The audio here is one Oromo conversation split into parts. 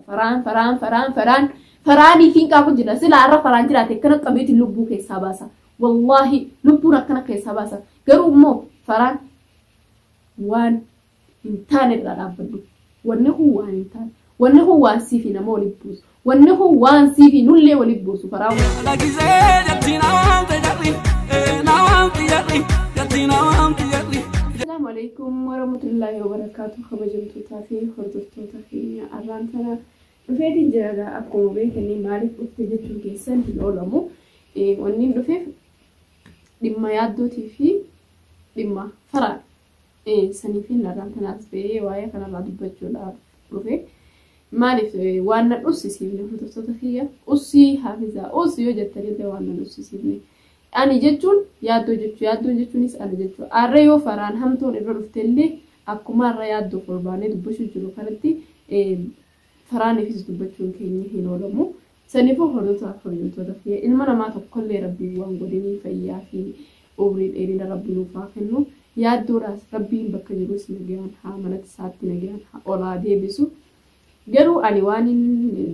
Faraan faraan faraan faraan faraanii fi qabu jira sila har'a faraan jiraate akkana qabeetiin lubbuu keessaa baasa. Wallaahi lubbuun akkana keessaa baasa. Garuu immoo faraan waan hin taane irraa dhaabbadhu. Wanni kun waan hin taane. Wanni kun waan siifi nama waliin buusu. Wanni kun waan siifi nullee waliin buusu faraan waan. Lagisee jatti namaan fayyadhi, namaan fayyadhi, jatti namaan fayyadhi. Assalamu alaikum warahmatullahi wabarakatuh kabajamtootaa fi hordoftoota keenya arraan tana dhufeetiin jira gaa akkuma beekanii maaliif dhufte jechuun keessan hin oolamu wanniin dhufeef dhimma yaaddootii fi dhimma faraa sanii fi narraan tanaas ta'ee waa'ee kanarraa dubbachuudhaaf dhufe maaliif waan na dhussisiifne hordoftoota kiyya ussii haafizaa ussii yoo jettanillee waan na dhussisiifne Ani jechuun yaaddoo jechu. Yaaddoon jechuunis ani jechu. Arra yoo faraan hamtuun irra dhuftellee akkuma arra yaaddoof ol baanee dubbachuu jiru kanatti faraaniifis dubbachuun keenya hin oolamu. Saniifuu hordoftoota kabajamtoota kiyya ilma namaa tokkollee rabbiin waan godhinii fayyaa fi umrii dheerina rabbi nuuf haa kennu. Yaaddoodhaas rabbiin bakka jirus nagayaan haa manatti isaatti nagayaan haa olaa deebisu. Garuu ani waanin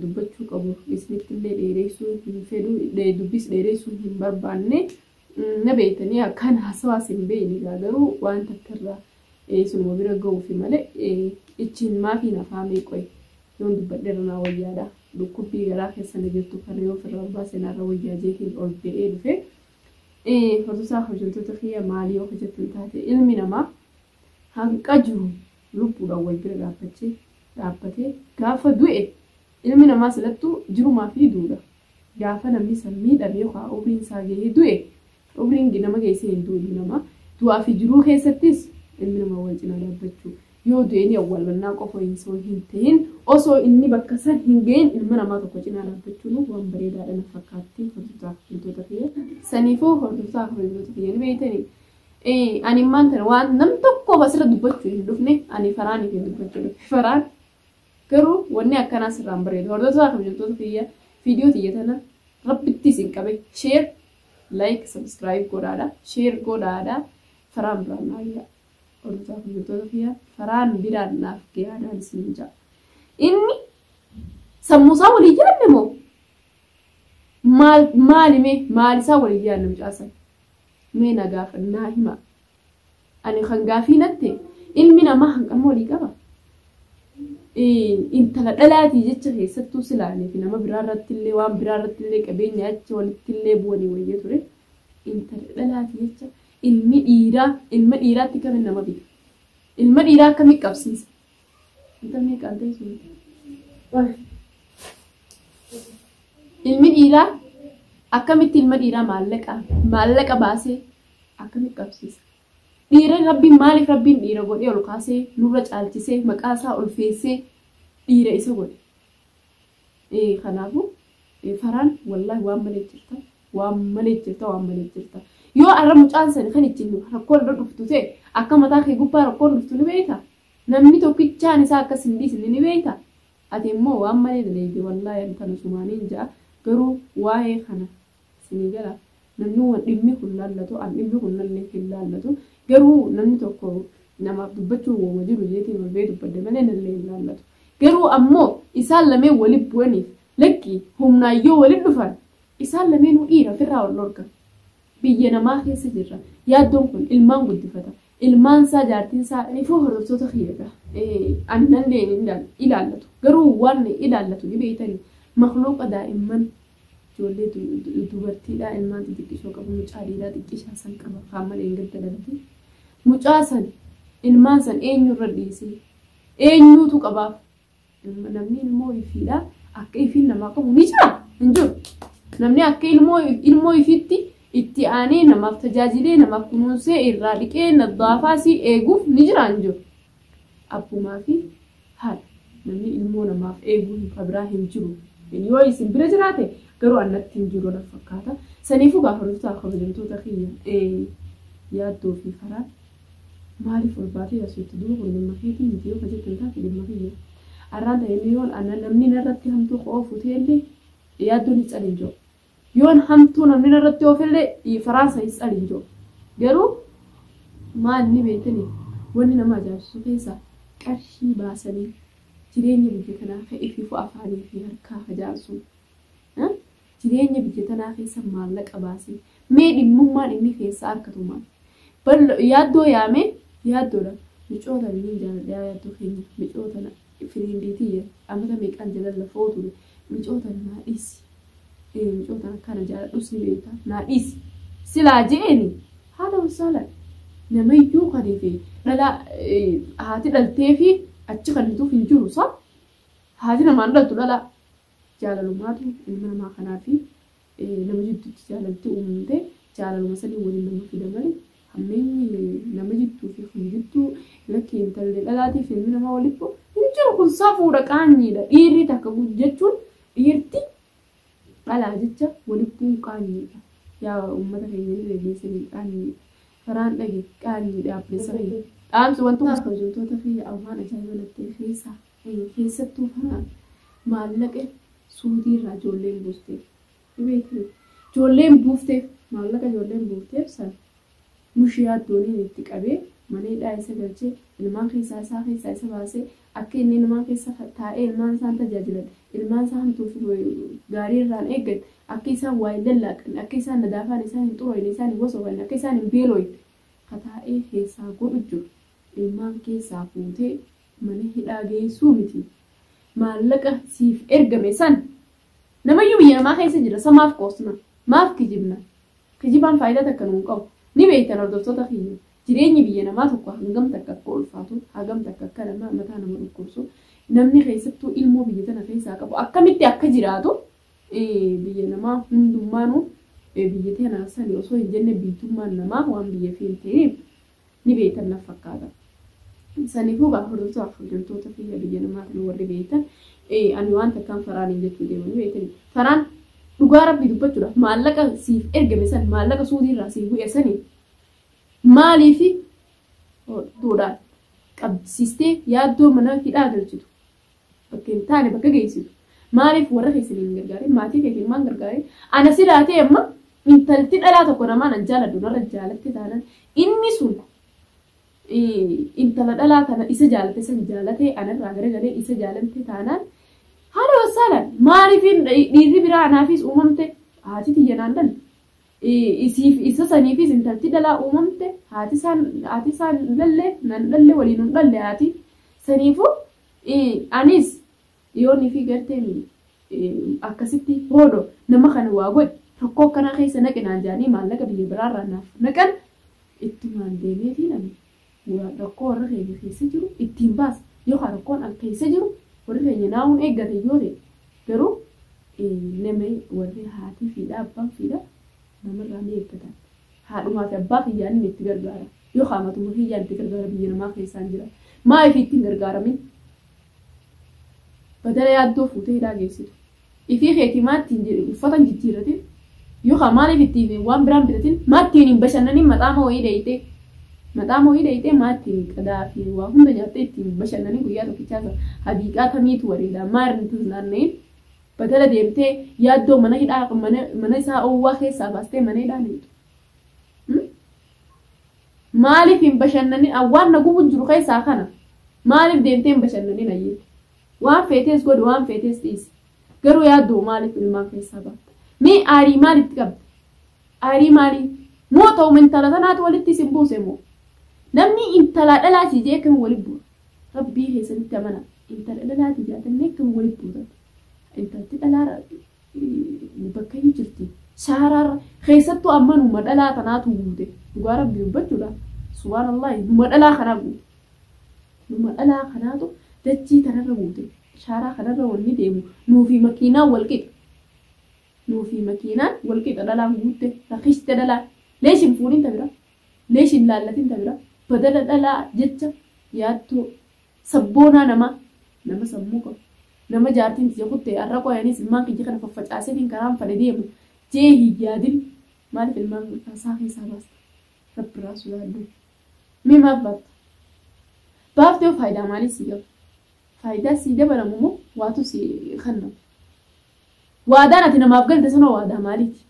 dubbachuu qabu isinittillee dheereessuu hin fedhu, dubbiis dheereessuu hin barbaanne. Na beektanii akkaan haasawaas hin beekne egaa garuu waan takka irraa isinuma bira gahuufi malee icciin maafii na faamee qoy yoon dubbadhe irra naa wayyaadha. Dhukkubbii garaa keessa na jirtu kana yoo ofirraa baase narra wayyaa jeetiin ol ba'ee dhufe. Hordosaa hojjettoota kiyya maalii yoo hojjettan taate ilmi namaa hanqa jiru lubbuudhaan wal bira dhaabbachee dhaabbatee gaafa du'e ilmi namaa silattuu jirumaa fi duudha. Gaafa namni san miidhame yookaan umriin isaa gahee du'e umriin nama geessee hin du'u ilmi namaa. Du'aa fi jiruu keessattis ilmi namaa wal cinaa dhaabbachuu yoo du'e ni awwaalmannaa qofa hin soo hin ta'in osoo inni bakka san hin gahin ilma namaa tokko cinaa dhaabbachuun waan bareedaadha na fakkaatti hordoftoota fi hintota kiyya. Saniifuu hordoftoota fi hintota kiyya ni beeytanii. Ani immaan kana waan nam tokko basira dubbachuu hin dhufne ani faraan hin dubbachuu dhufe faraan garuu wanni akkanaa sirraan bareedu hordoftoota kabajamtoota kiyya viidiyoo tiyya tana rabbitti isin qabe sheer laayik sabskiraayib godhaadha sheer godhaadha faraan biraan naa gayaa hordoftoota kabajamtoota kiyya faraan biraan naaf gayaadhaan isin jaa inni sammuusaa walii yaadne moo maal maalime maalisaa walii yaadne mucaasan Mee na gaafadha naa himaa. Ani kan gaafii natte ilmi namaa hanqan moolii qaba? Intala dhalaatii jecha keessattuu silaanii fi nama biraa irratti illee waan biraa irratti illee qabeenya achi walitti illee bu'anii wayya ture. Intala dhalaatii jecha ilmi dhiiraa ilma dhiiraatti kamiin nama bita? Ilma dhiiraa akkamitti qabsiisa? Intalli qaltee sun. Ilmi dhiiraa akkamitti ilma dhiiraa maallaqa maallaqa baasee akkamitti qabsiisa? Dhiira rabbiin maaliif rabbiin dhiira godhee ol kaasee nurra caalchisee maqaa isaa ulfeessee dhiira isa godhe? Ee kanaafu faraan wallahi waan malee jirta waan malee jirta waan malee jirta yoo arra mucaan sani kan ittiin rakkoon irra dhuftu ta'e akka mataa kee gubbaa rakkoon dhuftu ni beeyta namni tokkichaan isaa akkas hin dhiisne ni beeyta ati immoo waan malee daleeyde wallahi an kana sumaaniin ja'a garuu waa'ee kana Isinii gala? Namni waan dhimmi kun laallatu, an dhimmi kun nallee hin laallatu. Garuu namni tokko namaaf dubbachuun wooma jiru jeetee ol ba'ee dubbadde malee nallee hin laallatu. Garuu ammoo isaan lameen wali bu'aniif lakki humnaan yoo wali dhufan isaan lameenuu dhiira ofirraa wal dhorka. Biyya namaa keessa jirra. Yaaddoon kun ilmaan guddifata. Ilmaan isaa jaartiin isaa anifuu hordoftoota kiyyadha. Ani nan leenindan ilaallatu. Garuu waan ilaallatu ni beeytani. Makluuqa daa'imman ijoollee dubartiidhaa ilmaan xixiqqisoo qabu mucaa dhiiraa xiqqishaa san qaba kaan malee hin gadda dhalate. Mucaa san ilmaan san eenyu irra dhiisee eenyuutu qabaaf Namni ilmoo ifiidha akka ifiin namaa qabu ni jira hin jiru. Namni akka ilmoo ilmoo ifiitti itti aanee namaaf tajaajilee namaaf kunuunsee irraa dhiqee naddaafaa si eeguuf ni jira hin jiru. Abbumaa fi haadha namni ilmoo namaaf eeguu hin kabiraa hin jiru. Yoo isin bira jiraate garuu annatti hin jiru na fakkaata. Saniifuu gaafa dhuftaa kabajamtoota kiyya yaaddoo fi karaa Maaliif ol baatee as jetti duuba kun dhimma keetii miti yoo ka jettan taate dhimma kiyya arraan tana inni yoon ana namni narratti hamtuu ka oofu ta'ellee yaaddoo ni calin jiru yoon hamtuu namni narratti oofellee dhiifaraan sa hin calin jiru garuu maal ni beektani wanni nama ajaa'ibsiisu keessa qarshii baasanii jireenya biyya kanaa ka ifiifu afaanii fi harkaa ka jaarsu Jireenya biyya tanaa keessa maallaqa baasii. Mee dhimmummaan inni keessaa arkatu maal? Ballo yaaddoo yaame yaaddoodha. Micoo tana niin jaaladha yaa yaaddoo keenya. Micoo tana firiindii tiyya amata meeqaan jalan lafoo ture. Micoo tana naa dhiisi. Ee micoo tana akka na jaaladhus ni beekta. Naa dhiisi. Silaa je'eeni haala wasaalan namayyuu kanii fi dhala haati dhaltee fi achi kan hituuf hin jiru sa haati namaan dhaltu dhala Jaalalumaatu ilma namaa kanaa fi nama jidduutti jaalalti uumamte. Jaalaluma sanii waliin nama fida male hammeenyi nama jidduu fi kan jidduu lakki intalli dhalaatii fi ilmi namaa walitti bu'u hin jiru kun safuudha qaanyiidha. Dhiirri takka jechuun dhiirti dhalaa jecha walitti bu'uun qaanyiidha. Yaa uummata keenya ni dhageessanii qaanyiidha. Karaan dhage qaanyiidha abbeessa keenya. Dhaamsi wantoota hojjettoota fi waan ajaa'iba natti keessaa. Keessattuu kanaan maallaqa suudii irraa ijoolleen buusteef. Ni beektuu? Ijoolleen buufteef maallaqa ijoolleen buufteef san mushiyaa dooniin itti qabee mana hidhaa isa galchee ilmaan keessaa isaa keessaa isa baasee akka inni ilmaan keessa taa'ee ilmaan isaan tajaajilan ilmaan isaa hamtuuf gaarii irraan eeggan akka isaan waa hin lallaaqanne akka isaan nadaafaan isaan hin xurooyne isaan hin wasoofanne akka isaan hin beelooyne kataa'ee keessaa godhu jiru ilmaan keessaa fuutee Mana hidhaa geessuu miti. Maallaqa siif ergame san namayyuu biyya namaa keessa jira san maaf qoosna? Maaf kijibna? Kijibaan faayidaa takka nuun qabu. Ni beektan hordoftoota kiyya jireenyi biyya namaa tokko hangam takka akka ulfaatu, hagam takka akka nama mataa nama dhukkubsu, namni keessattuu ilmoo biyya tana keessaa qabu akkamitti akka jiraatu biyya namaa hundummaanuu biyya tana sani osoo hin jenne biitummaan namaa waan biyya fi hin ta'iniif ni beeytan naf fakkaata. Saniifuu gaa hordoftoota hordoftoota kiyya biyya namaa kana warri beeytan ani waan takkaan faraaniin jechuu deemanii beeytanii. Faraan dhugaa rabbii dubbachuudhaaf maallaqa siif ergame san maallaqa suudii irraa siif bu'e sani maaliifi duudhaan qabsiistee yaaddoo mana hidhaa galchitu bakka hin taane bakka geessitu maaliif warra keessan hin gargaarin maatii kee hin maan gargaarin ana si laatee amma intalti dhalaa tokko namaa nan jaaladhu narra jaalatte taanan inni sun intala dhalaa kana isa jaalate san jaalate anarraa garagalee isa jaalate taanaan haala wasaalaan maaliif dhiirri biraa anaafis uumamte haati tiyya naan dhalli Isiif isa saniifis intalti dhalaa uumamte haati isaan haati isaan dhalle nan dhalle waliin hin dhalle haati saniifu anis yoon fi garteen akkasitti hoodo nama kana waa godhi rakkoo akkanaa keessa naqinaan jaanii maallaqa biyya biraarraa naaf naqan ittumaan deemeetii nami Yoo rakkoo warra keenya keessa jiru ittiin baasa. Yoo ka rakkoon an keessa jiru warri keenya naawuun eeggate yoo ta'e garuu nama warri haatii fiidhaa abbaan fiidhaa namarraa ni eeggatan. Haadhumaa fi abbaa kiyyaan inni itti gargaara. Yoo ka matuma kiyyaan itti gargaara biyya namaa keessaan jira. Maa ifi ittiin gargaaramin? Badala yaaddoo fuutee hidhaa geessitu. Ifii keetii maatti hin jedhin uffata hin jijjiirratin yookaan maaliif itti hime waan biraan bitatin maattiin hin bashannanin maxaama wayii dhayxee maxaama wayii dhayxee maattiin qadaa fi waa hunda nyaattee itti hin bashannanin guyyaa tokkichaa san hadiiqaa tamiitu wareedaa maarni tun naanna'in batala deemtee yaaddoo mana hidhaa mana mana isaa owwaa keessaa baastee mana hidhaa deemtu. Maaliif hin bashannanin awwaan na gubu jiru keessaa kana maaliif deemtee hin bashannanin ayyee. Waan feetees godhi waan feetees dhiisi. Garuu yaaddoo maaliif ilmaan keessaa baatta? Mee aarii maal itti qabda? Aarii maalii? Moo ta'uma intala tanaatu walitti isin buuse moo? Namni intalaa dhalaa sii jee akkamiin walitti bu'a? Rabbii keessanitti amana. Intala dhalaa sii jaatannee akkamiin walitti buutan? Intalti dhalaarra bakka hin jirti. Saaraarra keessattuu amma numa dhalaa tanaatu guute. Dhugaa rabbii dubbachuudha. Subhaanallah numa dhalaa kanaa guute. Dhuma dhalaa kanaatu dachii tanarra guute. Shaaraa kanarra wanni deemu nuufi makiinaan wal qixa. Nuufi makiinaan wal qixa dhalaan guutte rakiste dhalaan. Leesh hin fuudhin ta biraa. Leesh hin laallatin ta biraa. Badana dhalaa jecha yaaddoo sabboonaa namaa nama sammuu qabu nama jaartiin tiyya kutte har'a qoy anis ilmaan kiyya kana faffacaaseetiin karaan fadhe deema jee hin yaadin maaliif ilmaan isaa keessaa baasta rabbi irraa sodaadhu Mee maaf baafta? Baafte hoo faayidaa maalii sii qaba? Faayidaa sii dabalamu moo waatu sii kennamu? Waadaan ati namaaf galte sanoo waadaa maaliiti?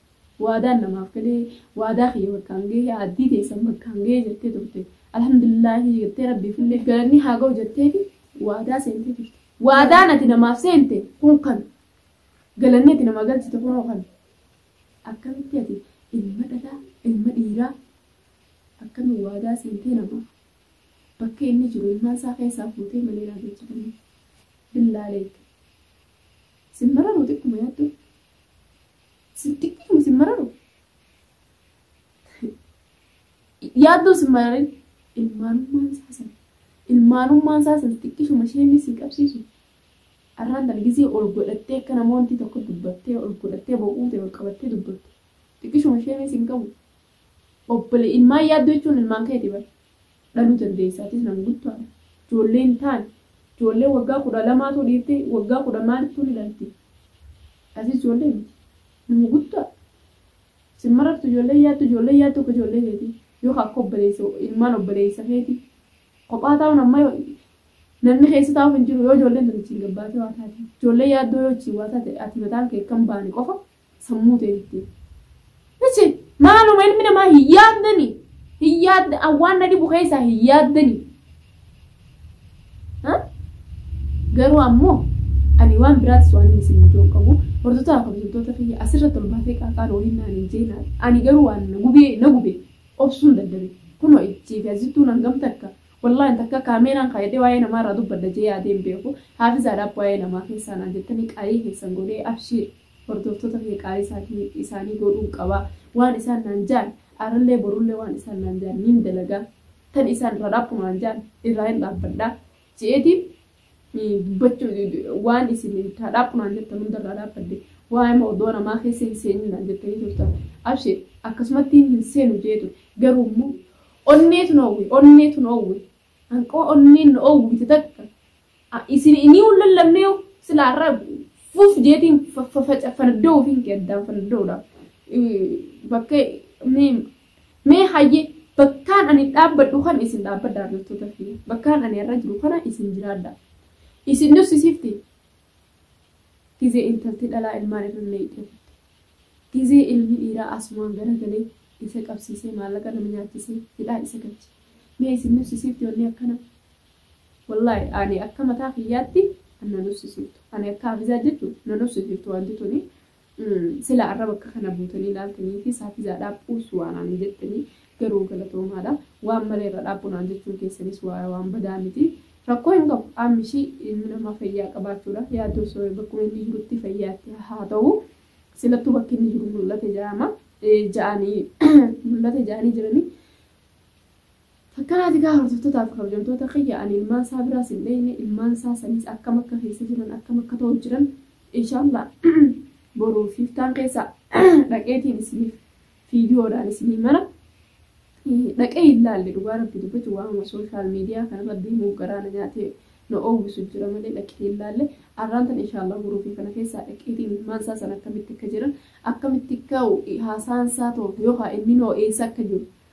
Waadaan namaaf galee waadaa kiyya bakkaan gahee aaddii teessan bakkaan gahee jettee turte. Alhamdulillaahii jettee rabbiifillee galanni haa gahu jetteeti waadaa seentee turte. Waadaan ati namaaf seente kun kan galanni ati namaa galchite kunoo kan akkamitti ati ilma dhalaa ilma dhiiraa Akkami waadaa seentee namaa bakka inni jiru ilmaan isaa keessaa fuutee mana hidhaa geecha kanii billaaleek sin mararuu xiqquma yaaddu sin xiqquma sin mararu yaadduu sin mararin ilmaanummaan isaa san ilmaanummaan isaa san xiqqishuma isheen si qabsiisu arraan tan gisee ol godhattee akka namoonni tokko dubbattee ol godhattee bo'uute ol qabattee dubbatte xiqqishuma isheen sin qabu Obbole ilmaan yaaddoo jechuun ilmaan keeti bar. Dhaluu dandeessa atis nam guddaadha. Ijoollee hin taane. Ijoollee waggaa 12tu dhiirti waggaa 10 maalittuu ni dhalti. Atis ijoollee miti. Nama guddaadha. Sin marartu ijoolleen yaaddoo ijoolleen yaaddoo akka ijoollee keetii. Yoo ka akka obboleessa ilmaan obboleessa keeti. Kophaa taa'uun amma namni keessa taa'uuf hin jiru yoo ijoolleen tun achiin gabbaatee waa taate. Ijoollee yaaddoo yoo achiin waa taate ati mataan kee akka hin baane qofa sammuu teetti. Ichi maaluma ilmi namaa hin yaaddani. Hin yaadda waan na dhibu keessaa hin yaaddani. Garuu ammoo ani waan biraatis waan isin ijoon qabu hordoftoota kabajamtoota kiyya asirratti ol baatee qaaqaan waliin naan hin jeena. Ani garuu waan na gubee na gube obsuun dadhabe. Kunoo ijjii fi asittuu nan gamta akka wallaahi takka kaameeraan kaayadee waa'ee namaa irraa dubbadda jee yaadee hin beeku. Haafizaadhaaf waa'ee namaa keessaa naan jettanii qaayii keessan godhee abshiir. Hordooftota kee qaalii isaatii, isaanii goodhuun qaba. Waan isaan naan jaan, arrallee borullee waan isaan naan jaan niin dalaga. Tan isaan irraa dhaabbu naan jaan, irraahin dhaabbadha. Je'eetiin dubbachuu, waan isin taa dhaabbu naan jettan hunda irraa dhaabbadde. Waa'ee moo odoo namaa keessa hin seenin naan jettanii turtan. Abshir, akkasumattiin hin seenu je'ee ture. Garuu immoo onneetu na oowwe, onneetu na oowwe. Hanqoo onneen na oowwite takka Isin inii hin lallabneeyu sila har'a fuf jeetiin fardoo ofiin kee addaan fardoodha. Bakka mee hayyee bakkaan ani dhaabbadhu kan isin dhaabbadha hordoftoota fi bakkaan ani irra jiru kana isin jiraadha. Isin dursisifti gizee intalti dhalaa ilmaan irra meeqee gizee ilmi dhiiraa asumaan garagalee isa qabsiisee maallaqa nama nyaachisee hidhaa isa galche. Mee isin dursisifti wanni akkana Wallahi ani akka mataa kiyyaatti an na nuffsisiiftu ani akka hafizaa jechu na nuffsisiiftu wanti tuni sila arra bakka kana buutanii laaltanii fi saafizaa dhaaphuus waan ani jettanii garuu galatoomaadha waan malee irra dhaaphu naan jechuun keessanis waa waan badaa miti rakkoo hin qabu aammishi ilmi namaa fayyaa qabaachuudha yaaddoo osoo bakkuma inni jirutti fayyaatti haa ta'u silattuu bakki inni jiru mul'ate ja'ama ja'anii mul'ate ja'anii jiranii Fakkanaati kaa hordoftotaa fi kabajamtoota kiyya ani ilmaan saa biraas hin dheyne ilmaan saa saniis akkam akka keessa jiran akkam akka ta'u jiran inshallah boru fi iftaan keessa dhaqeetiin isiniif viidiyoo dhaan isinii mara dhaqee hin laalle dhugaa rabbi dubbatu waanuma sooshaal miidiyaa kanarra deemuuf garaa na nyaatee na oowwisu jira malee dhaqee hin laalle arraan tan inshallah boruu fi kana keessaa dhaqeetiin ilmaan isaa san akkamitti akka jiran akkamitti akka haasaan isaa ta'u yookaan inni noo eessa akka jiru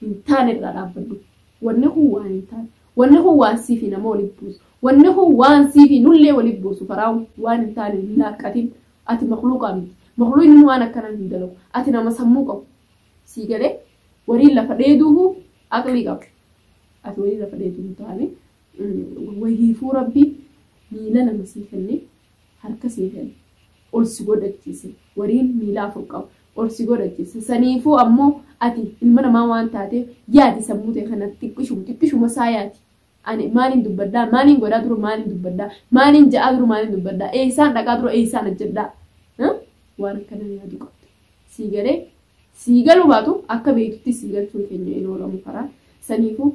hin taane irraa dhaabbadhu. Wanni kun waan hin taane. Wanni kun waan sii fi nama walitti buusu. Wanni kun waan sii fi nullee walitti buusu. Faraawu waan hin taane hin laaqqatin. Ati makluuqaa miti. Makluuqni waan akkanaa hin dalagu. Ati nama sammuu qabu. Sii galee wariin lafa dheeduuhu aqlii qabu. Ati wariin lafa dheeduu hin taane. Wahiifuu rabbi miila lama sii kennee harka sii kene ol si godhachiise wariin miila afur qabu ol si godhachiise saniifuu ammoo ati ilma namaa waan taateef yaadi sammuu ta'e kanatti xiqqishuma xiqqishuma isaa yaadi ani maaliin dubbadhaa maaliin godhaa dura maaliin dubbadhaa maaliin ja'aa dura maaliin dubbadhaa eessaan dhaqaa dura eessaan hojjedhaa waan akkana yaadu qabda sii galee sii galuu baatu akka beektutti sii galchuun keenya hin oolamu karaa saniifuu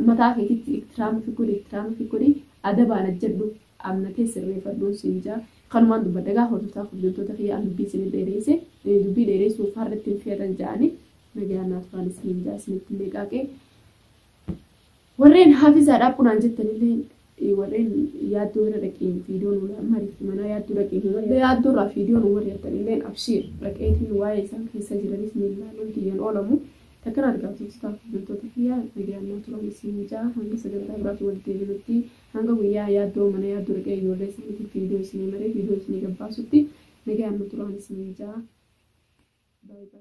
mataa keetitti ittiraama fi godhi ittiraama fi godhi adabaan ajjedhu Amna kee sirreefadhuun siin jaa kanumaan dubbadha egaa hordoftaa kabjamtoota kiyya an dubbii isinii dheereeyse dubbii dheereeysuuf har'a ittiin feerran ja'anii nagayaan naa turaan isiniin jaa isinitti meeqaaqee warreen haafizaadhaaf kunaan jettanilleen warreen yaaddoo irra dhaqee viidiyoo nu mariitti manaa yaaddoo dhaqee nu mariitti yaaddoo irraa viidiyoo nu marii'attanilleen abshiir dhaqeetiin waa'ee isaan keessa jiranis ni ilaaluun kiyyan oolamu takkan argaatu taaf bultoota kiyyaa nagayaan naa turaan isiniin jaa hanga sagantaa biraatti walitti deebinutti Hanga guyyaa yaaddoo mana yaaddoo riphee ijoollee isaaniitiif viidiyoo isinii maree viidiyoo isinii gad baasutti nagayaan nu turaan isiniin ja'a. By by.